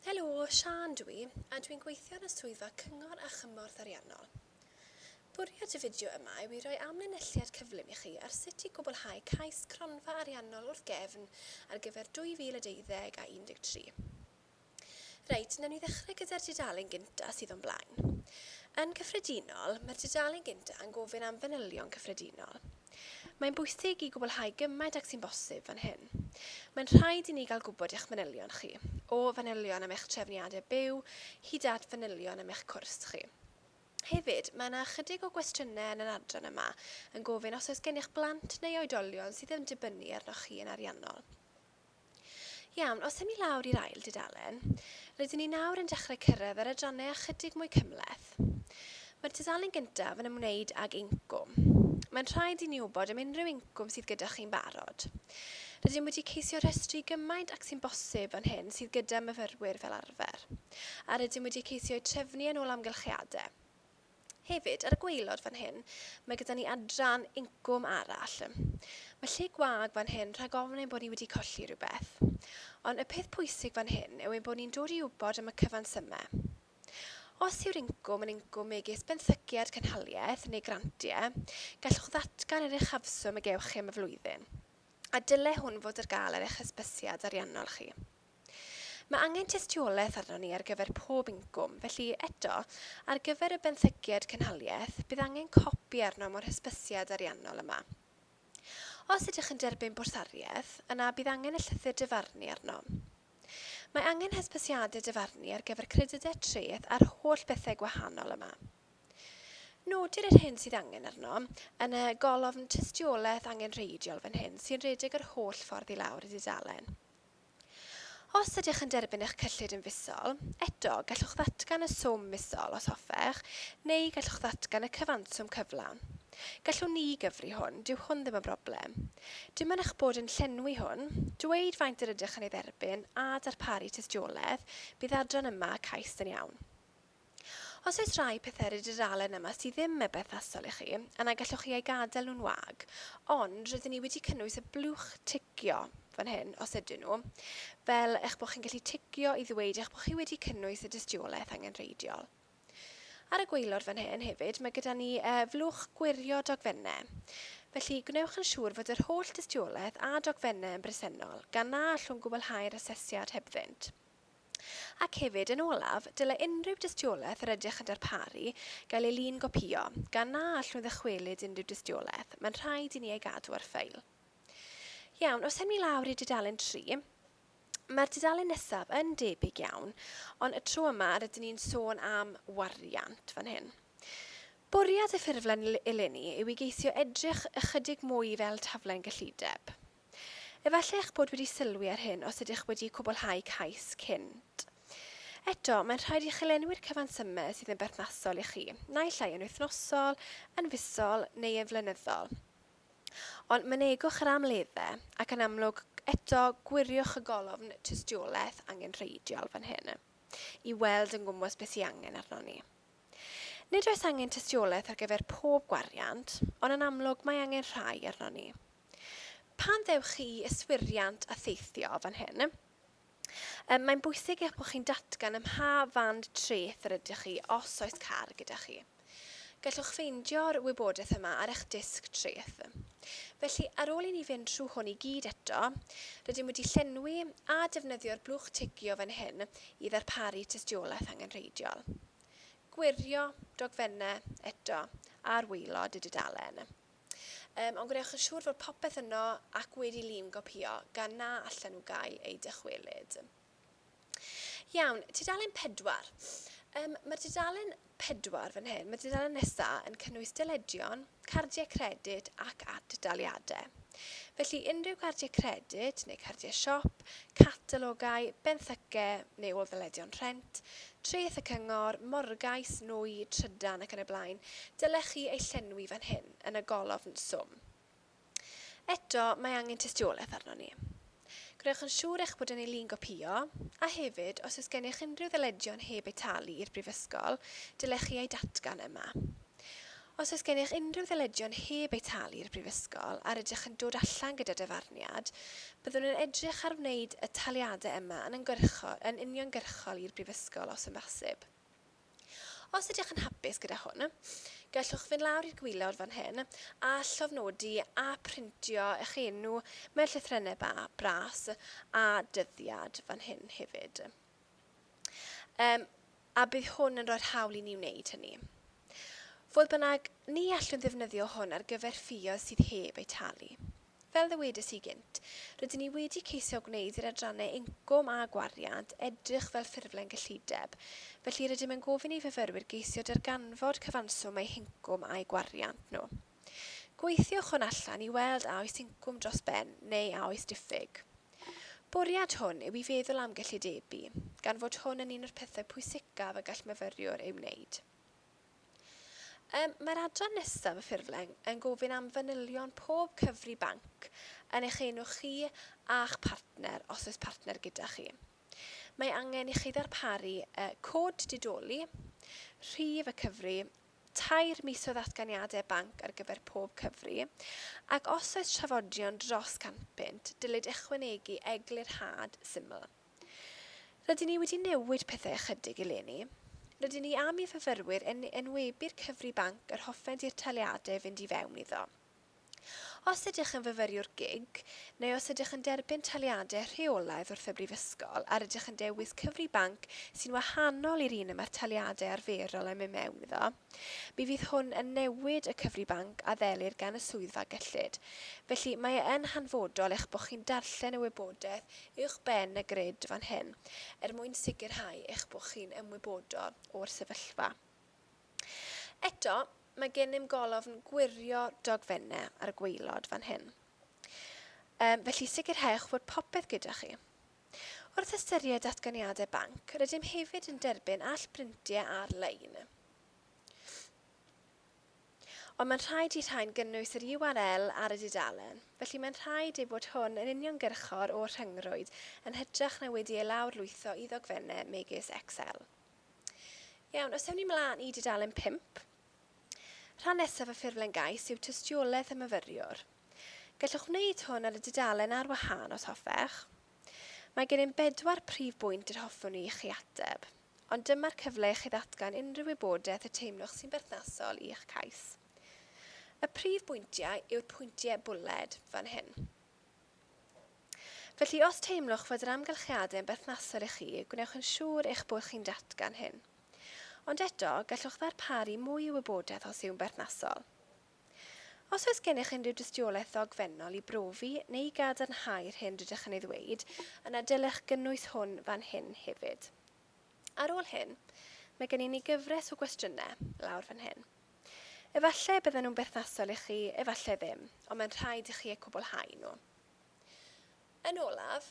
Helo, Siân dw i, a dwi'n gweithio yn y Swyddfa Cyngor a Chymorth Ariannol. Bwriad y fideo yma yw i roi amlinelliad cyflym i chi ar sut i gwblhau cais Cronfa Ariannol wrth gefn ar gyfer 2012 a 13. Reit, wnawn ni ddechrau gyda'r dudalen gynta' sydd o'n blaen. Yn gyffredinol, mae'r dudalen gynta' yn gofyn am fanylion cyffredinol. Mae'n bwysig i gwblhau gymaint ag sy'n bosib fan hyn. Mae'n rhaid i ni gael gwybod eich manylion chi, o fanylion am eich trefniadau byw hyd at fanylion am eich cwrs chi. Hefyd, mae yna ychydig o gwestiynau yn yr adran yma yn gofyn os oes gennych blant neu oedolion sydd yn dibynnu arnoch chi yn ariannol. Iawn, os ewn ni lawr i'r ail dudalen, rydyn ni nawr yn dechrau cyrraedd yr adrannau ychydig mwy cymhleth. Mae'r tudalen gyntaf yn ymwneud ag incwm. Mae'n rhaid i ni wybod am unrhyw incwm sydd gyda chi'n barod. Rydym wedi ceisio rhestru gymaint ac sy'n bosib fan hyn sydd gyda myfyrwyr fel arfer, a rydym wedi ceisio eu trefnu yn ôl amgylchiadau. Hefyd, ar y gwaelod fan hyn, mae gyda ni adran incwm arall. Mae lle gwag fan hyn rhag ofn ein bod ni wedi colli rhywbeth. Ond y peth pwysig fan hyn yw ein bod ni'n dod i wybod am y cyfansymau. Os yw'r incwm yn incwm megis benthyciad cynhaliaeth neu grantiau, gallwch ddatgan yr uchafswm y gewch chi am y flwyddyn, a dylai hwn fod ar gael ar eich hysbysiad ariannol chi. Mae angen tystiolaeth arnon ni ar gyfer pob incwm, felly, eto, ar gyfer y benthyciad cynhaliaeth, bydd angen copi arnom o'r hysbysiad ariannol yma. Os ydych yn derbyn bwrsariaeth, yna bydd angen y llythyr dyfarnu arno. Mae angen hysbysiadau dyfarnu ar gyfer credydau treth a'r holl bethau gwahanol yma. Nodir yr hyn sydd angen arnom yn y golofn tystiolaeth angenrheidiol fan hyn sy'n rhedeg yr holl ffordd i lawr y dudalen. Os ydych yn derbyn eich cyllid yn fisol, eto, gallwch ddatgan y swm misol os hoffech, neu gallwch ddatgan y cyfanswm cyflawn. Gallwn ni gyfri hwn, dyw hwn ddim yn broblem. Dim ond eich bod yn llenwi hwn, dweud faint yr ydych yn ei dderbyn a darparu tystiolaeth, bydd adran yma cais yn iawn. Os oes rhai pethau ar y dudalen yma sydd ddim mor berthnasol i chi, yna gallwch chi eu gadael nhw'n wag, ond rydyn ni wedi cynnwys y blwch ticio fan hyn, os ydyn nhw, fel eich bod chi'n gallu ticio i ddweud eich bod chi wedi cynnwys y dystiolaeth angenrheidiol. Ar y gwaelod fan hyn hefyd, mae gyda ni y flwch gwirio dogfennau. Felly, gwnewch yn siŵr fod yr holl dystiolaeth a dogfennau yn bresennol, gan na allwn gwblhau'r asesiad hebddynt. Ac hefyd, yn olaf, dylai unrhyw dystiolaeth yr ydych yn darparu gael ei lun-gopïo, gan na allwn ddychwelyd unrhyw dystiolaeth, mae'n rhaid i ni ei gadw ar ffeil. Iawn, os ewn ni lawr i dudalen 3, mae'r dudalen nesaf yn debyg iawn, ond y tro yma rydyn ni'n sôn am wariant fan hyn. Bwriad y ffurflen eleni yw i geisio edrych ychydig mwy fel taflen gyllideb. Efallai eich bod wedi sylwi ar hyn os ydych wedi cwblhau cais cynt. Eto, mae'n rhaid i chi lenwi'r cyfansymau sydd yn berthnasol i chi, naill ai yn wythnosol, yn fisol neu yn flynyddol. Ond mynegwch yr amlleddau, ac yn amlwg, eto, gwiriwch y golofn tystiolaeth angenrheidiol fan hyn i weld yn gwmws beth sy'n angen arnon ni. Nid oes angen tystiolaeth ar gyfer pob gwariant, ond yn amlwg mae angen rhai arnon ni. Pan ddewch chi i yswiriant a theithio fan hyn, mae'n bwysig eich bod chi'n datgan ym mha fand treth yr ydych chi os oes car gyda chi. Gallwch ffeindio'r wybodaeth yma ar eich disg treth. Felly, ar ôl i ni fynd trwy hwn i gyd eto, rydym wedi llenwi a defnyddio'r blwch tigio fan hyn i ddarparu tystiolaeth angenrheidiol. Gwirio, dogfennau, eto, ar waelod y dudalen. Yym, ond gwnewch yn siŵr fod popeth yno ac wedi lun gopïo gan na allan nhw gael eu dychwelyd. Iawn, tudalen 4. Um, mae tudalen 4 fan hyn, mae tudalen nesaf yn cynnwys dyledion, cardiau credyd ac ad-daliadau. Felly unrhyw gardiau credyd neu cardiau siop, catalogau, benthycau neu ôl-ddyledion rhent, Treth y Cyngor, Morgais, Nwy, Trydan ac yn y blaen, dylech chi eu llenwi fan hyn, yn y golofn Swm. Eto, mae angen tystiolaeth arnon ni. Gwnewch yn siŵr eich bod yn ei lun gopïo, a hefyd, os oes gennych unrhyw ddyledion heb eu talu i'r Brifysgol, dylech chi eu datgan yma. Os oes gennych unrhyw ddyledion heb eu talu i'r Brifysgol a rydych yn dod allan gyda dyfarniad, byddwn yn edrych ar wneud y taliadau yma yn yn uniongyrchol i'r Brifysgol os yn bosib. Os ydych yn hapus gyda hwn, gallwch fynd lawr i'r gwaelod fan hyn a llofnodi a phrintio eich enw mewn llythrennau ba, bras a dyddiad fan hyn hefyd. Yym. a bydd hwn yn rhoi'r hawl i ni wneud hynny. Fodd bynnag, ni allwn ddefnyddio hwn ar gyfer ffioedd sydd heb eu talu. Fel ddywedais i gynt, rydyn ni wedi ceisio gwneud i'r adrannau incwm a gwariant edrych fel ffurflen gyllideb, felly rydym yn gofyn i fyfyrwyr geisio darganfod cyfanswm eu hincwm a'u gwariant nhw. Gweithiwch hwn allan i weld a oes incwm dros ben neu a oes diffyg. Bwriad hwn yw i feddwl am gyllidebu, gan fod hwn yn un o'r pethau pwysicaf y gall myfyriwr ei wneud. Mae'r adran nesaf y ffurflen yn gofyn am fanylion pob cyfri banc yn eich enw chi a'ch partner os oes partner gyda chi. Mae angen i chi ddarparu cod didoli, rhif y cyfri tair mis o ddatganiadau banc ar gyfer pob cyfri, ac os oes trafodion dros 100 punt, dylid ychwanegu eglurhad syml. Rydyn ni wedi newid pethau ychydig eleni. Rydyn ni am i fyfyrwyr yn enwebu'r cyfri banc yr hoffent i'r taliadau fynd i fewn iddo. Os ydych yn fyfyriwr gig, neu os ydych yn derbyn taliadau rheolaidd wrth y Brifysgol a rydych yn dewis cyfri banc sy'n wahanol i'r un y mae'r taliadau arferol yn mynd mewn iddo, mi fydd hwn yn newid y cyfri banc a ddelir gan y swyddfa gyllid. Felly, mae e yn hanfodol eich bod chi'n darllen y wybodaeth uwch ben y grid fan hyn er mwyn sicrhau eich bod chi'n ymwybodol o'r sefyllfa. Eto, mae gennym golofn gwirio dogfennau ar y gwaelod fan hyn, um, felly sicrhewch fod popeth gyda chi. Wrth ystyried datganiadau banc, rydym hefyd yn derbyn all brintiau ar-lein. Ond mae'n rhaid i rhain gynnwys yr URL ar y dudalen, felly mae'n rhaid ei bod hwn yn uniongyrchol o'r rhyngrwyd yn hytrach na wedi ei lawr lwytho i ddogfennau megis Excel. Iawn, os ewn ni mlaen i dudalen 5. Rhan nesaf y ffurflen gais yw tystiolaeth y myfyriwr. Gallwch wneud hwn ar y dudalen ar wahân os hoffech. Mae gennym bedwar prif bwynt yr hoffwn i chi ateb, ond dyma'r cyfle i chi ddatgan unrhyw wybodaeth y teimlwch sy'n berthnasol i'ch cais. Y prif bwyntiau yw'r pwyntiau bwled fan hyn. Felly, os teimlwch fod yr amgylchiadau yn berthnasol i chi, gwnewch yn siŵr eich bod chi'n datgan hyn. Ond eto, gallwch ddarparu mwy o wybodaeth os yw'n berthnasol. Os oes gennych unrhyw dystiolaeth ddogfennol i brofi neu i gadarnhau'r hyn rydych yn ei ddweud, yna dylech gynnwys hwn fan hyn hefyd. Ar ôl hyn, mae gen i ni gyfres o gwestiynau lawr fan hyn. Efallai y bydden nhw'n berthnasol i chi, efallai ddim, ond mae'n rhaid i chi eu cwblhau nhw. Yn olaf,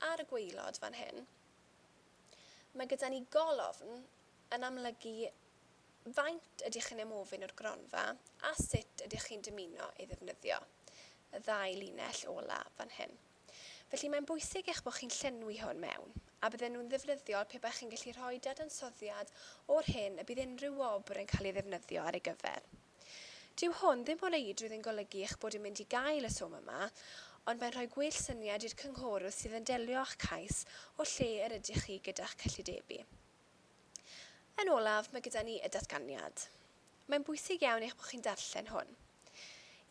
ar y gwaelod fan hyn, mae gyda ni golofn yn amlygu faint ydych chi'n ymofyn o'r gronfa a sut ydych chi'n dymuno ei ddefnyddio, y ddau linell ola fan hyn. Felly mae'n bwysig eich bod chi'n llenwi hwn mewn, a bydden nhw'n ddefnyddiol pe baech chi'n gallu rhoi dadansoddiad o'r hyn y bydd unrhyw wobr yn cael ei ddefnyddio ar ei gyfer. Dyw hwn ddim o reidrwydd yn golygu eich bod yn mynd i gael y swm yma, ond mae'n rhoi gwell syniad i'r cynghorydd sydd yn delio â'ch cais o lle yr ydych chi gyda'ch cyllidebu. Yn olaf, mae gyda ni y datganiad. Mae'n bwysig iawn eich bod chi'n darllen hwn.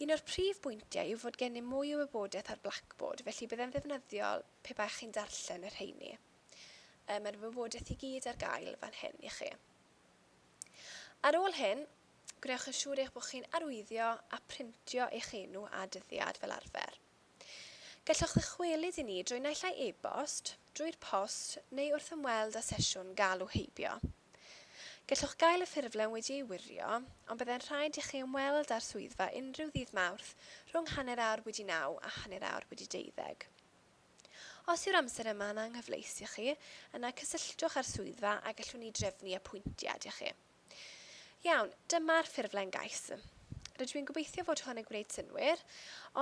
Un o'r prif bwyntiau yw fod gennym mwy o wybodaeth ar Blackboard, felly byddai'n ddefnyddiol pe baech chi'n darllen y rheini. Yy, mae'r wybodaeth i gyd ar gael fan hyn i chi. Ar ôl hyn, gwnewch yn siŵr eich bod chi'n arwyddio a printio eich enw a dyddiad fel arfer. Gallwch ddychwelyd i ni drwy naill ai e-bost, drwy'r post neu wrth ymweld â sesiwn galw heibio. Gallwch gael y ffurflen wedi ei wirio, ond byddai'n rhaid i chi ymweld â'r swyddfa unrhyw ddydd Mawrth rhwng hanner awr wedi naw a hanner awr wedi deuddeg. Os yw'r amser yma yn anghyfleus i chi, yna cysylltwch â'r swyddfa a gallwn ni drefnu apwyntiad i chi. Iawn, dyma'r ffurflen gais. Rydw i'n gobeithio fod hwn yn gwneud synnwyr,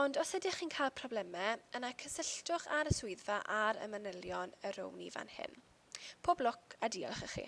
ond os ydych chi'n cael problemau, yna cysylltwch â'r y swyddfa ar y manylion y rown i fan hyn. Pob lwc a diolch i chi.